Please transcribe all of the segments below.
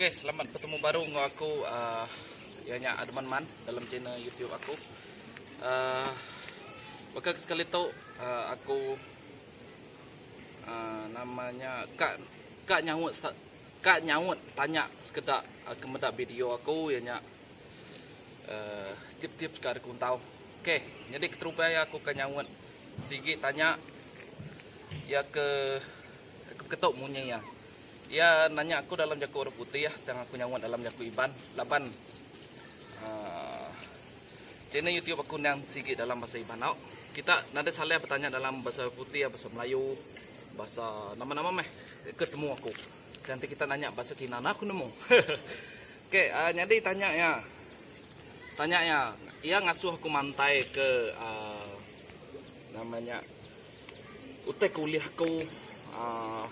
Okey selamat betemu baru enggau aku uh, iya nya Adman Man dalam channel YouTube aku. Uh, baka sekali tu uh, aku uh, namanya kak kak nyaut kak nyaut tanya sekeda uh, kemeda video aku iya nya uh, tip-tip ka ada kuntau. Okey, jadi keterubai aku ka nyaut sigi tanya ya ke ketuk munyi ya. Iya nanya aku dalam jaku Orang Putih tang aku nyaut dalam jaku Iban, laban channel YouTube aku endang sigi dalam bahasa Iban tau. Kita nadai salah betanya dalam bahasa Orang Putih, bahasa Melayu, bahasa nama-nama meh ke temu aku. Tang enti kita nanya bahasa Cina enda aku nemu. Okey, nyadi tanya iya. Tanya iya, iya ngasuh aku mantai ke nama nya utai ke ulih aku aaa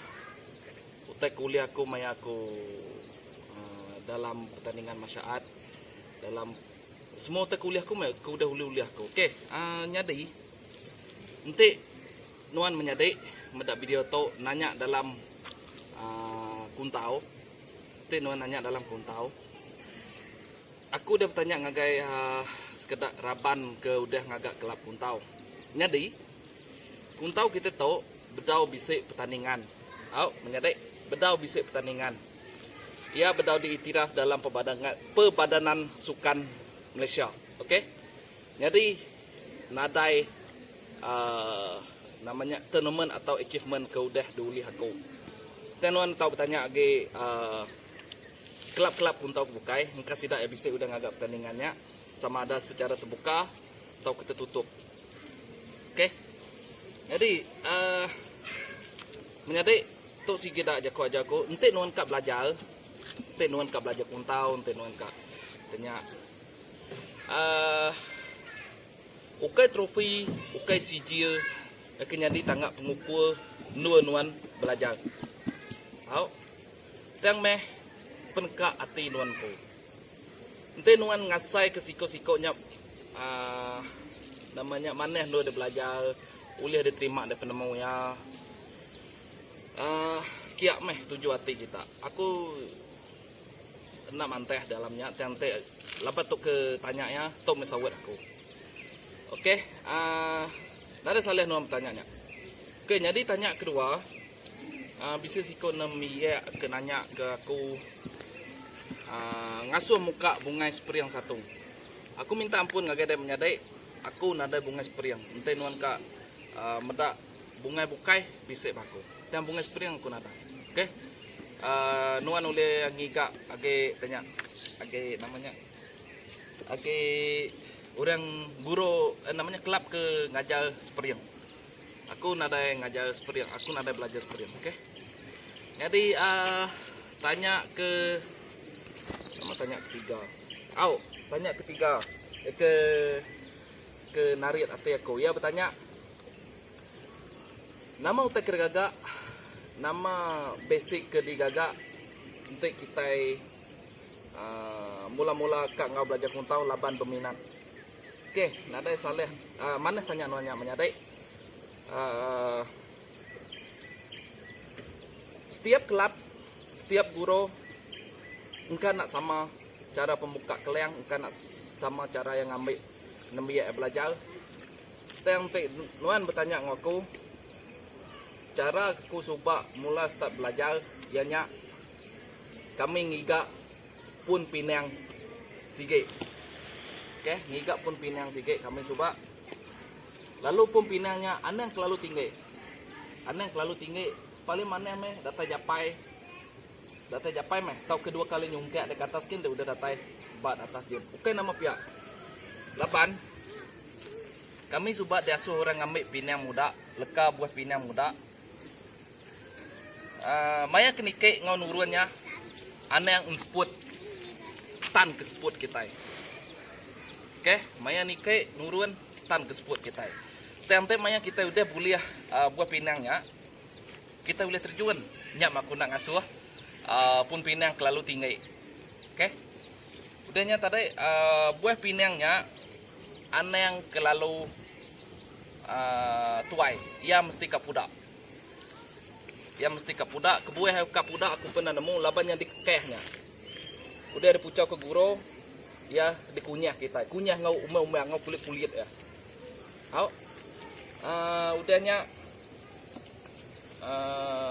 utai ke ulih aku maya aku dalam pertandingan masyaat dalam semua utai ke ulih aku meh ke udah ulih ulih aku okey aaa nyadi enti nuan menyadi meda video tu nanya dalam aaa kuntau. Ti nuan nanya dalam kuntau? Aku udah betanya ngagai sekeda raban ke udah ngaga kelab kuntau. Nyadi, kuntau kita tu bedau bisi pertandingan. Au, menyadi, bedau bisi pertandingan. Iya bedau diiktiraf dalam Perbadanan Sukan Malaysia. Okey. Nyadi. nadai nama nya tournament atau achievement ke udah diulih aku. Tang nuan tau betanya agi kelab-kelab puntau ke bukai engka sida iya bisi udah ngaga pertandingan nya sama ada secara terbuka tauka tertutup. Ok nyadi uhh menyadi tu sigi da jaku ajar aku enti nuan ka belajar enti nuan ka belajar puntau enti nuan ka tanya. Aaa. Ukai trofi, ukai sijil deka nyadi tangga pengukur endur nuan belajar. Au. Tang meh peneka ati nuan empu. Enti nuan ngasaika siko-siko nya aaa nama nya manah endur dep belajar ulih dep terima daripada penemu iya. Aaa. Kia meh tuju ati kita. Aku. Kena mantah dalam nya tang enti lebuh tu ke tanya iya tu meh saut aku. Okey aaa nadai salah nuan betanya nya. Okey nyadi tanya kedua aaa bisi siku nembiak ke nanya ke aku aaa ngasuh muka bungai spring satung. Aku minta ampun ngagai dep menyadi aku nadai bungai spring enti nuan ka aaa meda bungai bukai bisi ba aku. Tang bungai spring aku nadai. Okey. Nuan ulih ngiga agi tanya agi nama nya agi orang guru nama nya kelab ke ngajar spring. Aku nadai ngajar spring aku nadai belajar spring okay. Nyadi aaa tanya ke nama tanya ketiga au tanya ketiga ke ke narit ati aku iya betanya. Nama utai ke digaga? Nama basic ke digaga enti kitai aaa mula-mula ka enggau belajar kuntau laban beminat. Okey, nadai salah aaa manah tanya nuan nya menyadi aaa setiap kelab, setiap guru engka enda sama chara pembuka kelang, engka enda sama chara iya ngambi nembiak iya belajar. Tang ti nuan betanya enggau aku, chara aku suba mula start belajar iya nya kami ngiga pun pinang sigi. Ok ngiga pun pinang sigi kami suba lalu pun pinang nya anang kelalu tinggi. Anang kelalu tinggi paling manah meh datai japai datai japai meh tauka dua kali nyungkak deka atas gin udah datai ba atas gin. Bukai nama pia laban Kami suba diasuh orang ngambi pinang muda, leka buah pinang muda. Uh, maya ke niki enggau nurun nya, anang ensput tan ke sput kita. Okey, maya niki nurun tan ke sput kita. Tante maya kita udah boleh uh, buah pinang nya, kita boleh terjun nya maku nak ngasuh uh, pun pinang kelalu tinggi. Okey. Udah nya tadi uh, buah pinang nya Anang kelalu tuai iya mesti ka pudak. Iya mesti ka pudak kebuah iya ka pudak aku pernah nemu laban nya dikekeh nya. Udah dipuchau ke guru iya dikunyah kitai. Kunyah enggau umang-umang enggau kulit-kulit iya. Au. Uh, udah nya uh,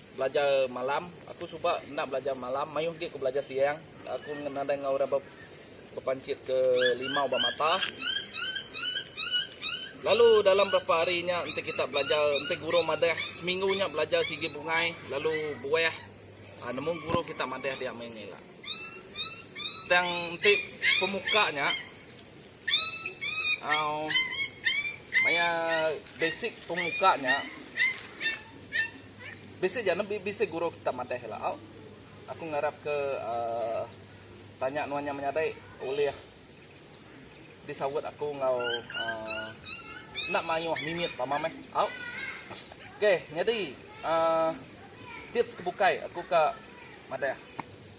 Belajar malam, aku suba enda belajar malam, mayuh agi ku belajar siang. Aku nadai enggau orang ba bepanchit ke limau ba mata. Lalu dalam berapa hari nya enti kita belajar, enti guru madah seminggu nya belajar sigi bungai lalu buah ah, nemu guru kita madah dia meh ila. Tang enti pemuka nya Maya basic pemuka nya basic ja ne bisi guru kita madeh ila au. Aku ngarap ke aaa tanya nuan nya menyadi ulih disaut aku enggau aaa enda mayuh mimit pama meh au. Okay nyadi aaa tips ke bukai aku ka madeh.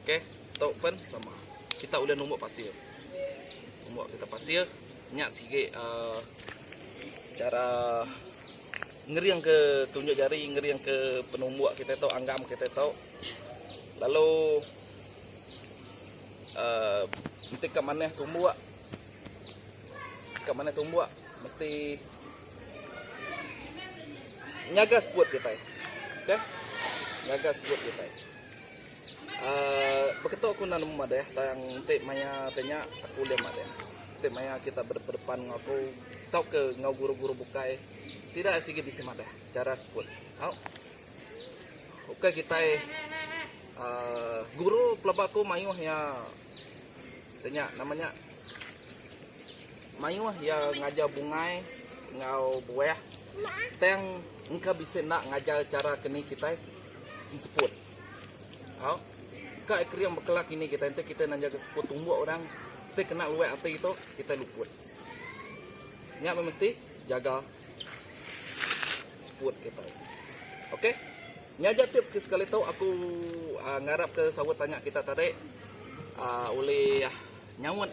Okey tu pen sama kita ulih numbuk pasir. Numbuk kita pasir nya sigi uh, cara ngering ke tunjuk jari ngering ke penumbuk kita tu anggam kita tu lalu uh, mesti ke manah tumbuk ke manah tumbuk mesti nyaga sebut kita okey nyaga sebut kita Beketo aku enda nemu madah tang enti maya ti nya aku ulih madah. Enti maya kita bedepan-depan enggau aku tauka enggau guru-guru bukai sida sigi bisi madah chara sekul. Au. Ukai kitai aaa guru pelaba aku mayuh iya ti nya nama nya mayuh iya ngajar bungai enggau buah tang engka bisi enda ngajar chara ke ni kitai enseput. Au. Ka ekrim bekela kini kitai enti kitai nanja ke seput tumbuk orang ti kena luai ati tu kitai luput. Nya meh mesti jaga seput kitai. Okey. Nya aja tips ke sekali tu aku ngarap ke saut tanya kita tadi ulih nyaut